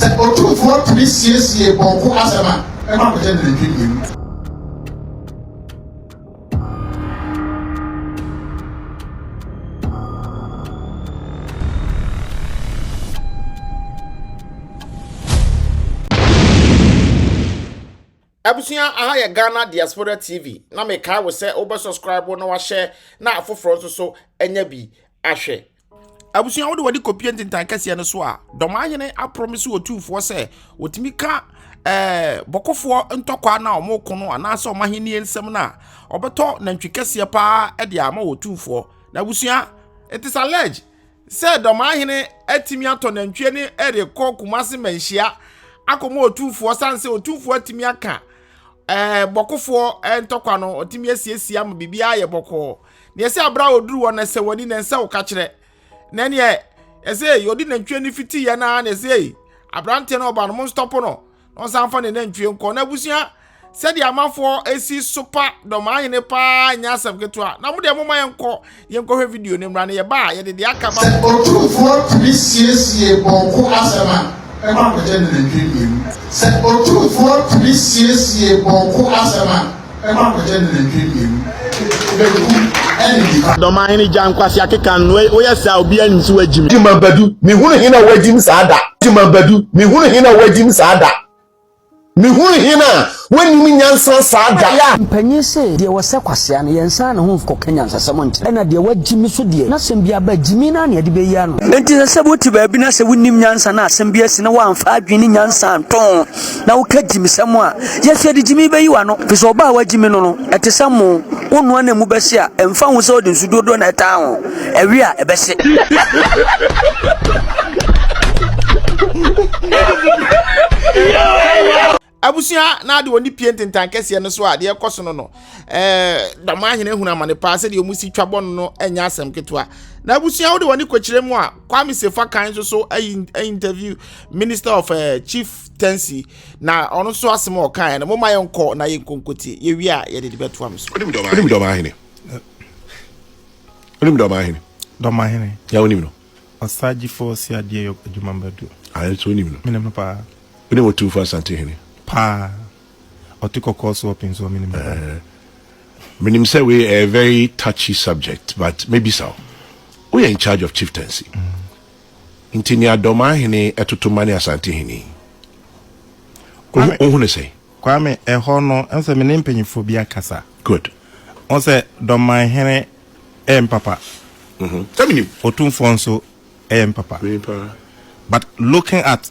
Sɛ otumfoɔ tumi siesie pɔnkɔ asɛm a, ɛkɔ akɔkyɛ nantwi mmienu. Abusua aha yɛ Ghana Diaspora TV na mekae wo sɛ wobɛ subscribe na wahyɛ na afoforɔ nso so anya bi ahwɛ. Abusua wode wɔde kɔpie ntentan kɛseɛ no so a dɔmahene aprɔmese ɔtumfoɔ sɛ wɔtumi ka eh, bɔkofoɔ ntɔkwa no a wɔko no anaasɛ wɔn ahennie nsɛm no a ɔbɛtɔ nantwi kɛseɛ paa de ama wɔ ɔtumfoɔ na abusua it is alleged sɛ dɔmahene atumi atɔ nantwie ne ɛrekɔ kumase manhyia akɔma ɔtumfoɔ sane sɛ ɔtumfoɔ atumi aka eh, bɔkofoɔ eh, ntɔkwa no ɔtumi asiesie ama biribiara yɛ bɔkɔɔ Neɛ ɛsɛ aberɛ a ɔduru hɔ no ɛsɛ w'ani na ɛnsɛ wo kakyerɛ na neɛ ɛsɛ ɔde nantwie no fiti yɛ naa na ɛsɛ aberanteɛ no ɔba no mo nstɔpo no na ɔsan fa ne nantwie nkɔ na abusua sɛdeɛ amanfoɔ ɛsi sopa dɔmaa hene paa nyɛ asɛm ketewa na mo deɛ moma yɛnkɔ yɛnkɔhwɛ video no mmra na yɛba a yɛde deɛ aka ba sɛ ɔtumfoɔ tumi siesie bɔɔko asɛm a ɛma kɔgye ne nantwie mmienu sɛ ɔtumfoɔ tumi siesie bɔɔko asɛm a Dɔmahene gya nkwasea keka no wo yɛ saa obiara nim sɛ wagyi me. Gyima Badu me hunu hena a wagyi me saa da Gyima Badu me hunu hena a wagyi me saa da Me hunu hena a wannim nyansa saa da yeah. Mpanyin se deɛ wɔsɛ kwasea no yɛn nsa ne ho nkɔka nyansasɛm nkyerɛ ɛna deɛ wagyi me so deɛ n'asɛm bi aba gyimi no ara na yɛde bɛyi ano. Enti ɛsɛ sɛ wote baabi na sɛ wonnim nyansa na asɛm bi asi na woamfa adwene ne nyansa anto ho. na woka gyimisɛm a yɛsɛ de gyimi bɛyi w'ano fi sɛ ɔbaa wagyimi no no ɛte sɛ mo wo noa na mu bɛhye a ɛmfa ho sɛ ɔde nsu dodoɔ na ɛtaa ho ɛwe a ɛbɛhye abusua na ade wɔn pie ntentan kɛseɛ no so a deɛ ɛkɔ so no no ɛɛ dama ahene ehun amane paa sɛdeɛ wɔn si twa bɔ no no ɛnyɛ asɛm ketewa na abusua wode wɔn kɔkyerɛ mu a kwame sefa kan nso so ɛyi interview Minister of uh, Chief Tensi na ɔno nso asɛm a ɔkaeɛ no moma yɛnkɔ na yɛnkɔ nkotie yɛwie a yɛde de bɛtoa me so. Wonim dɔmahene? Wonim dɔmahene? Dɔmahene. Ya wonim no? Ɔsagyefo si adeɛ yɔ adwuma bɛdu. Ayɛ nso wonim no? Menim no paa. Wonim otumfo asante hene? Paa. Ɔte kɔkɔɔ so ɔpin so menim no paa. Menim sɛ wei a very touchy subject but mebisa wo. Woyɛ in charge of chieftaincy. Mm. Nti nea Dormaa hene ɛtoto ma ne Asante hene yi Kwame, wo hu no sɛn? Kwame, ɛhɔ no ɛnsɛ me ne mpanyinfoɔ bi akasa. Good. Wo sɛ Dormaa hene ɛyɛ me papa. Mhm, sɛ menim. Otumfoɔ nso ɛyɛ me papa. Menim paa. But looking at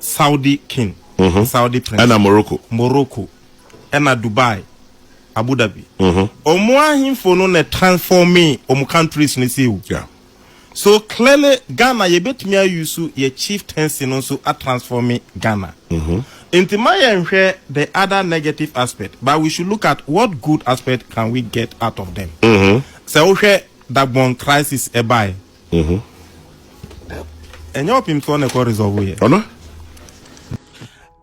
Saudi King, Saudi Prince, ɛna Morocco, Morocco, ɛna Dubai, Abu Dhabi. Omo ahemfo no na transforming omo countries no sei o. So clearly Ghana yɛbɛtumi a use yɛ chieftaincy no nso a transforming Ghana. Nti ma yɛn hwɛ the other negative aspect but we should look at what good aspect can we get out of them. Sɛ wo hwɛ Dagbon crisis ɛbaɛ. Mhm. ɛnyɛ ɔpem soɔ na ɛkɔ resolve yɛ ɔno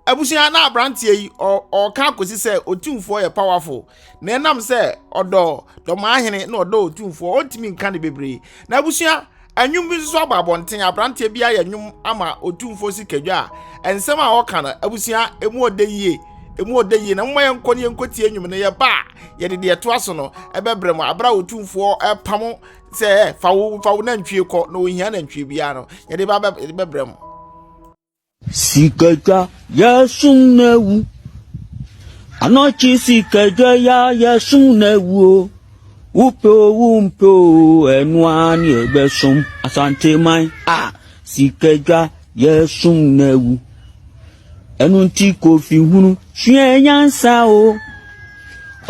abusua na abranteɛ yi ɔka akosi sɛ otumfoɔ yɛ powerful na ɛnam sɛ ɔdɔ dɔmaahene na ɔdɔ otumfoɔ ɔntumi nka ne bebree na abusua anwum bi nso abɔ abɔnten abranteɛ bi ayɛ nwom ama otumfoɔ sikadwa a nsɛm a ɔka no abusua emu ɔdɛ yie emu ɔdɛ yie na mma yɛn nkɔ ne yɛn nkɔ tie nwom no yɛ ba a yɛde deɛ ɛtoa so no ɛbɛbrɛ mu abira otumfoɔ ɛpamo sɛ ɛ eh, fa wo fa wo nantwie kɔ na ohia nantwie biara no yɛde ba yɛde bɛbrɛ mo. sikadwa yɛsum na ewu anɔkye sikadwa ya yɛsum na ewu o wopɛ o wompɛ o ɛno ara ne ɛbɛsom asanteman a sikadwa yɛsum na ewu Ɛno nti Kofi hunu sua nyansa o.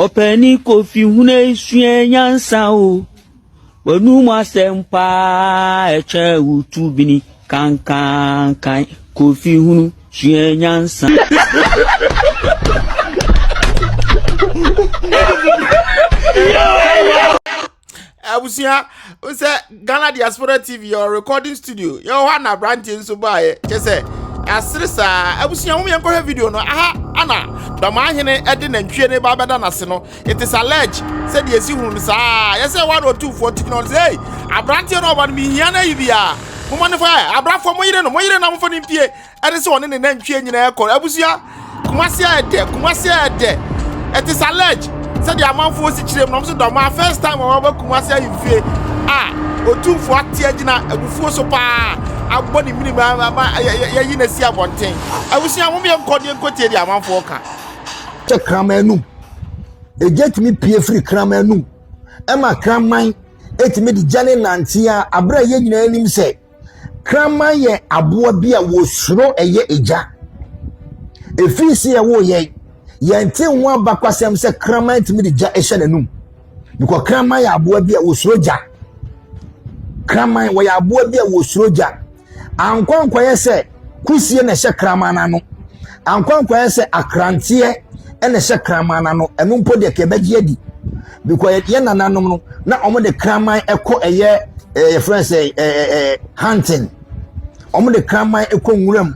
Ɔpɛni Kofi hunu sua nyansa o. W'anum asɛm paa ɛkyɛ wo tubini kankankan. Kofi hunu sua nyansa. abusua sɛ ghana diaspora tv yɛwɔ recording studio yɛwɔ hɔ ana aberanteɛ nso baeɛ kyɛ sɛ asere saa abusua ho yɛnkɔhwɛ video no aha ana dɔmaahene de nantwie no ba bɛda n'ase no it is alleged sɛ deɛ ɛsi hunu no saa yɛ sɛ wɔne ɔtumfoɔ technology ei aberanteɛ no ɔba no mehia no ayi bi a momɔ ne fa abrafoɔ mo yere no mo yere na mofa no mpie Ɛne sɛ ɔne ne nantwie nyinaa kɔ. Abusua, Kumasi ayɛ dɛ, Kumasi ayɛ dɛ. It is alleged sɛ deɛ amanfoɔ si kyerɛ mu na wɔn nso dɔm a first time wɔn aba Kumasi ahemfie a otumfoɔ ate agyina abufuo so paa abɔ ne mmirim ama yɛyi no asi abɔnten. Abusua, mom yɛ nkɔ deɛ nkɔ tie deɛ amanfoɔ ka. Kyɛ kraman anum. Egya tumi pie firi kraman anum ɛma kraman etumi de gya ne nante a abere a yɛn nyinaa nim sɛ. Kraman yɛ aboa bi a wɔsuro ɛyɛ egya. Ɛfiri sɛ yɛwo yɛn, yɛnte ho abakwasɛm sɛ kraman tumi de gya hyɛ n'anum. Because kraman yɛ aboa bi a wɔsuro gya. Kraman wɔyɛ aboa bi a wɔsuro gya. Ankorankwa yɛ sɛ kusie na ɛhyɛ kraman no ano ankorankora yɛ sɛ akranteɛ na ɛhyɛ kraman no ano ɛno mpo deɛ kɛbɛgye adi because yɛ nananom no na wɔn de kraman ɛkɔ ɛyɛ ɛɛ yɛfrɛ sɛ ɛɛ ɛɛ hunting wɔn de kraman ɛkɔ nwura mu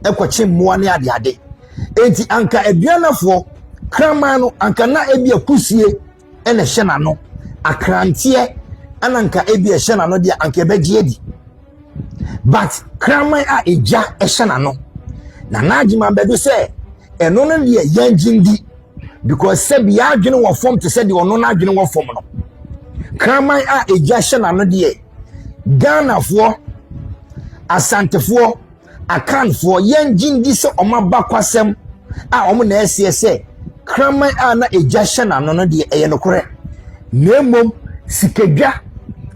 ɛkɔkye mmoa ne adeade eti anka aduanafoɔ kraman no anka na ebi akusie ɛna ɛhyɛ n'ano akranteɛ ɛna anka ebi ɛhyɛ n'ano deɛ anka ɛbɛgye adi. but kraman a egya hyɛ n'ano na n'adwene ma bɛdo sɛ ɛno no deɛ yɛn gye ndi because sɛbi y'adwene wɔ fam te sɛ deɛ ɔno n'adwene wɔ fam no kraman a egya hyɛ n'ano deɛ ghanafoɔ asantefoɔ Akanfoɔ, yɛn gye ndi sɛ wɔn abakwasɛm a wɔn na ɛseɛ sɛ kraman a na egya hyɛ n'ano no deɛ ɛyɛ nokorɛ, na mmom sikadwa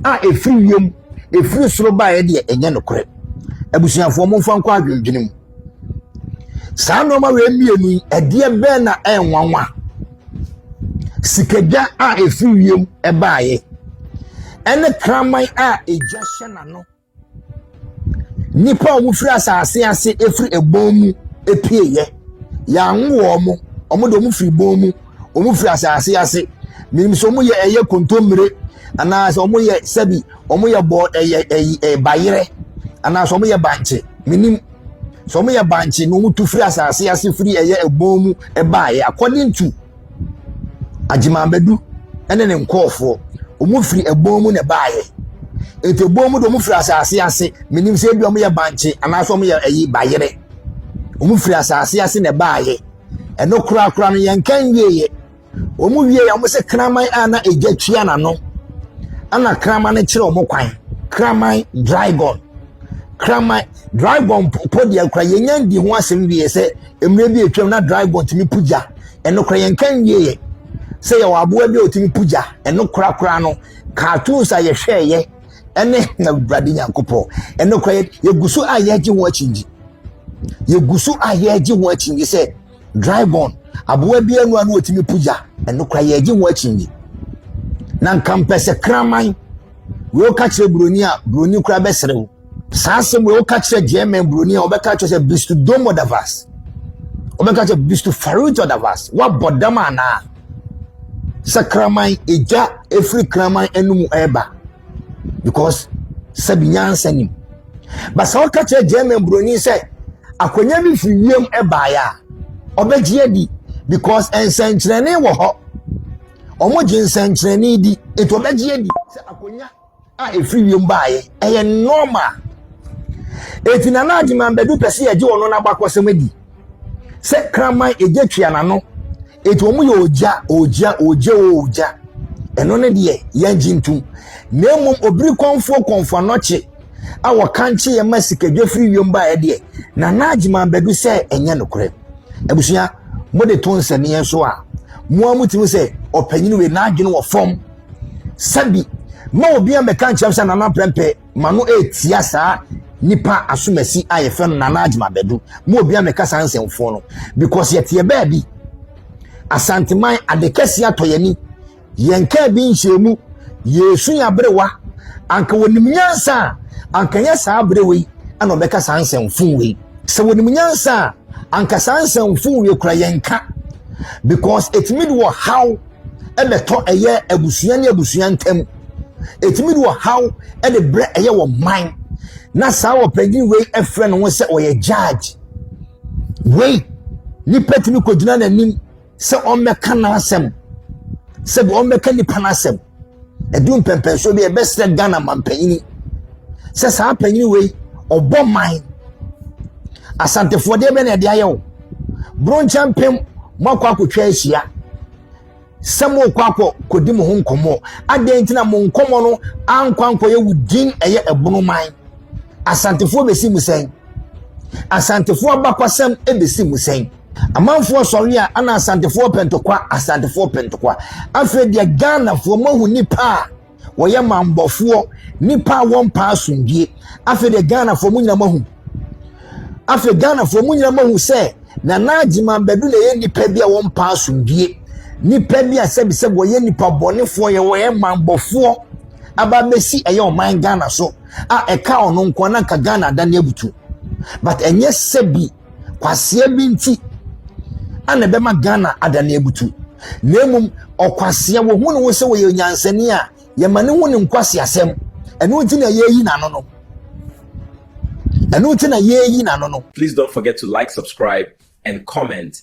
a ɛfiri wiem, ɛfiri soro baeɛ deɛ ɛnyɛ nokorɛ. Abusuafoɔ momfa nkɔ adwendwene mu. Saa nneɛma wei mmienu yi, ɛdeɛ bɛn na ɛnwanwa? Sikadwa a ɛfiri wiem ɛbaeɛ ɛne kraman a egya hyɛ n'ano Nnipa a wɔfiri asase ase firi ɛbɔn mu pueɛ. Yɛanwo wɔn. Wɔn deɛ wɔfiri bɔn mu. Wɔfiri asase ase. Menim sɛ wɔyɛ ɛyɛ kontommire anaasɛ wɔyɛ sɛbi wɔyɛ bɔ ɛyɛ ɛyi ɛ bayerɛ anaasɛ wɔyɛ bankye. Menim. Sɛ wɔyɛ bankye na wɔtu firi asase ase firi ɛyɛ ɛbɔn mu baeɛ according to. Agyemambadu ne ne nkorɔfoɔ, wɔfiri ɛbɔn mu na ɛbaeɛ. Nti ɛbɔn mu deɛ wɔfiri asase ase. Menim sɛ ebia wɔyɛ bankye anaasɛ wɔyɛ ayi bayerɛ. Wɔfiri asase ase na ɛbaeɛ. Ɛno korakora no, yɛnka nwieeɛ. Wɔwieeɛ a, wɔse kraman a na egya tua n'ano, ɛna kraman no kyerɛ wɔn kwan. Kraman dragon. Kraman dragon po deɛ koraa yɛnnya nnii ho asɛm wie sɛ. Mmerɛ bi atwam na dragon tumi po gya. Ɛnokorɛ yɛnka nwieɛ sɛ yɛwɔ aboa bi a ɔtumi po gya. Ɛno korakora no, cartoons a yɛhwɛɛyɛ ɛne Awurade Nyankopɔn. Ɛnokorɛ yɛgu so a yɛregye ho akyingye. Yɛgu so a yɛregye ho akyingye sɛ dragon, aboa bi anu a na ɔtumi po gya. Ɛnokorɛ yɛregye ho akyingye. Na nka mpɛ sɛ kraman, wei ɔka kyerɛ buroni a, buroni koraa bɛsrɛ wo. saa asɛm wei woka kyerɛ german buroni a wɔbɛka kyerɛ sɛ bistu domo davas wɔbɛka kyerɛ bistu faruto davas woabɔ dam anaa sɛ kraman ɛgya ɛfiri kraman anum ɛreba because sɛbi nyansa nim ba sɛ woka kyerɛ german buroni sɛ akwanya bi firi wiem ɛbaeɛ a ɔbɛgye adi because nsɛnkyerɛnne wɔ hɔ wɔn gye nsɛnkyerɛnne di nti ɔbɛgye adi sɛ akonnwa. a ɛfiri wiem baeɛ ɛyɛ normal ɛti nana agyeman bɛdu pɛ sɛ yɛgye ɔno n'abakɔsɛm adi sɛ kraman ɛgya tua n'ano ɛti wɔn yɛ ɔgya ɔgya ɔgya ɔgya ɛno ne deɛ yɛngye ntom na mmom obiri kɔnfoɔ kɔnfo anɔkye a wɔkankye yɛ ma sikadwa firi wiem baeɛ deɛ nana agyeman bɛdu sɛ ɛnyɛ nokorɛ abusua mode to nsɛnneɛ so a mo a motumi sɛ ɔpanyin wei n'adwene wɔ fam sɛbi ma obi amɛka nkyɛm sɛ nana prɛmpɛ ma no ɛtia saa nipa asomasi a yɛfɛ no nana adwuma bɛdu ma obi amɛka saa nsɛmfoɔ no because yɛteɛ baabi asanteman ade kɛseɛ atɔ yɛni yɛn kaa bi nhyɛ mu yɛsu yɛ aberewa anka wɔnim nyansa a anka nyɛ saa aberewa yi ɛna ɔbɛka saa nsɛmfo wei sɛ wɔnim nyansa a anka saa nsɛmfo wei kura yɛn ka because ɛtumi de wɔ haw na ɛtɔ ɛyɛ abusua ne abusua ntam ɛtumi de ɔhaw de brɛ ɛyɛ wɔ man na saa ɔpanyin wei frɛ ne ho sɛ ɔyɛ judge wei nipa tumi kɔgyina n'anim sɛ ɔmmɛka n'asɛm sɛ ɔmmɛka nipa n'asɛm ɛdu mpɛmpɛnsoɔ bi a ɛbɛsrɛ ghana mampanyini sɛ saa panyini wei ɔbɔ man asantefoɔ deɛ bɛ na ɛde ayɛ wo bronkyɛ mpem moakɔ akɔtwa ahyia sɛ morekɔ akɔ kɔdi mo ho nkɔmmɔ adɛn nti na mo nkɔmmɔ no ankɔ ankɔyɛ wo din ɛyɛ ɛbono man asantefoɔ bɛsi mu sɛn asantefoɔ abakɔsɛm bɛsi mu sɛn Amanfoɔ sɔre a ana asantefoɔ pɛ ntokwa asantefoɔ pɛ ntokwa afei deɛ ghanafoɔ moahu nipa a wɔyɛ mambɔfoɔ nipa a wɔmpa asomdwie afei deɛ ghanafoɔ mo nyina moahu afei ghanafoɔ mo nyina moahu sɛ nana agyeman bɛdu na ɛyɛ nipa bi a wɔmpa asomdwie nipa bi a sɛbisɛbi wɔyɛ nipa bɔnefoɔ yɛ wɔyɛ mambɔfoɔ aba bɛsi ɛyɛ ɔman ghana so a ɛka ɔno nko na nka ghana adane abutu but ɛnyɛ sɛbi Kwasea bi nti na ɛbɛma Ghana adane abutu. Na mmom ɔkwasea wɔhu ne ho sɛ wɔyɛ nyansani a yɛma ne ho ne nkwaseasɛm. Ɛno nti na yɛreyi n'ano no. Ɛno nti na yɛreyi n'ano no. Please don't forget to like, subscribe and comment.